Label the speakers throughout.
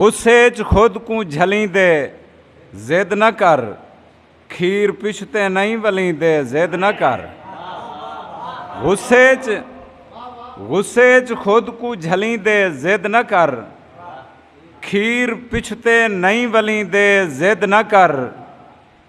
Speaker 1: غصے اچ خود کوں جھلیں دے ضد نہ کر کھیر پچھتے نئیں ولیں دے ضد نہ کر غصے اچ غصے اچ خود کوں جھلیں دے ضد نہ کر کھیر پچھتے نئیں ولیں دے ضد نہ کر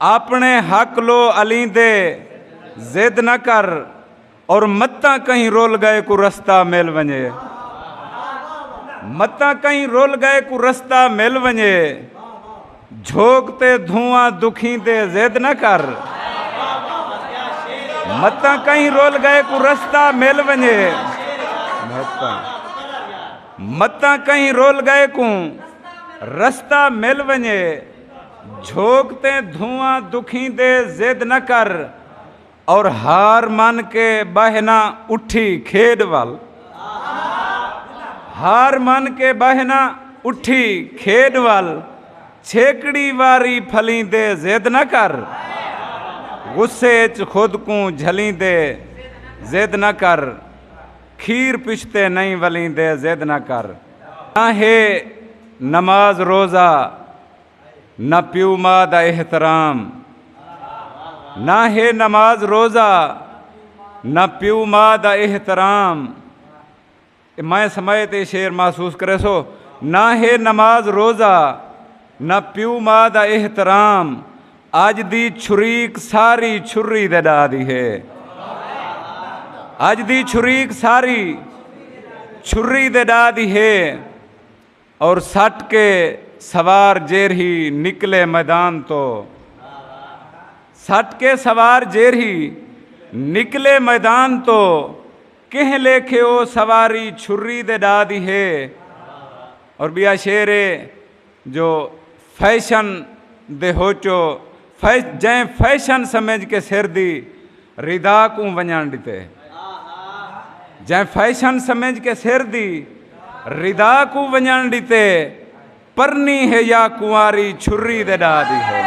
Speaker 1: آپنڑے حق لو علیں دے ضد نہ کر اور متاں کہیں رول گئے کو رستہ مل ونجے متاں کہیں رول گئے کو رستہ مل ونجے جھوک تے دھواں دکھیں دے ضد نہ کر متاں کہیں رول گئے کو رستہ مل ونجے متاں کہیں رول گئے کو رستہ مل ونجے جھوک تے دھواں دکھیں دے ضد نہ کر اور ہار من کے بہنا اٹھی کھیڈ وال ہار من کے بہنا اٹھی کھیڈ وال چھیکڑی واری پھلیں دے ضد نہ کر غصے چ خود کو جھلیں دے ضد نہ کر کھیر پشتے نہیں ولیں دے ضد نہ کر نہ ہے نماز روزہ نہ پیو ماں دا احترام نہ ہے نماز روزہ نہ پیو ماں دا احترام میں سمے تے شیر محسوس کرے سو نہ ہے نماز روزہ نہ پیو ماں دا احترام اج دی چھریک ساری چھری دے ڈاہ دی ہے اج دی چھریک ساری چھری دے ڈاہ دی ہے اور سٹ کے سوار جیرہی نکلے میدان تو سٹ کے سوار جیرہی نکلے میدان تو کہیں لیکھے او سواری چھری دے ڈاہ دی ہے اور بیا شعر ہے جو فیشن دے ہوچو جئیں فیشن سمجھ کے سر دی ردا کوں ونڄݨ ݙتے جئیں فیشن سمجھ کے سر دی ردا کوں ونڄݨ ݙتے پرنی ہے یا کنواری چھری دے ݙا دی ہے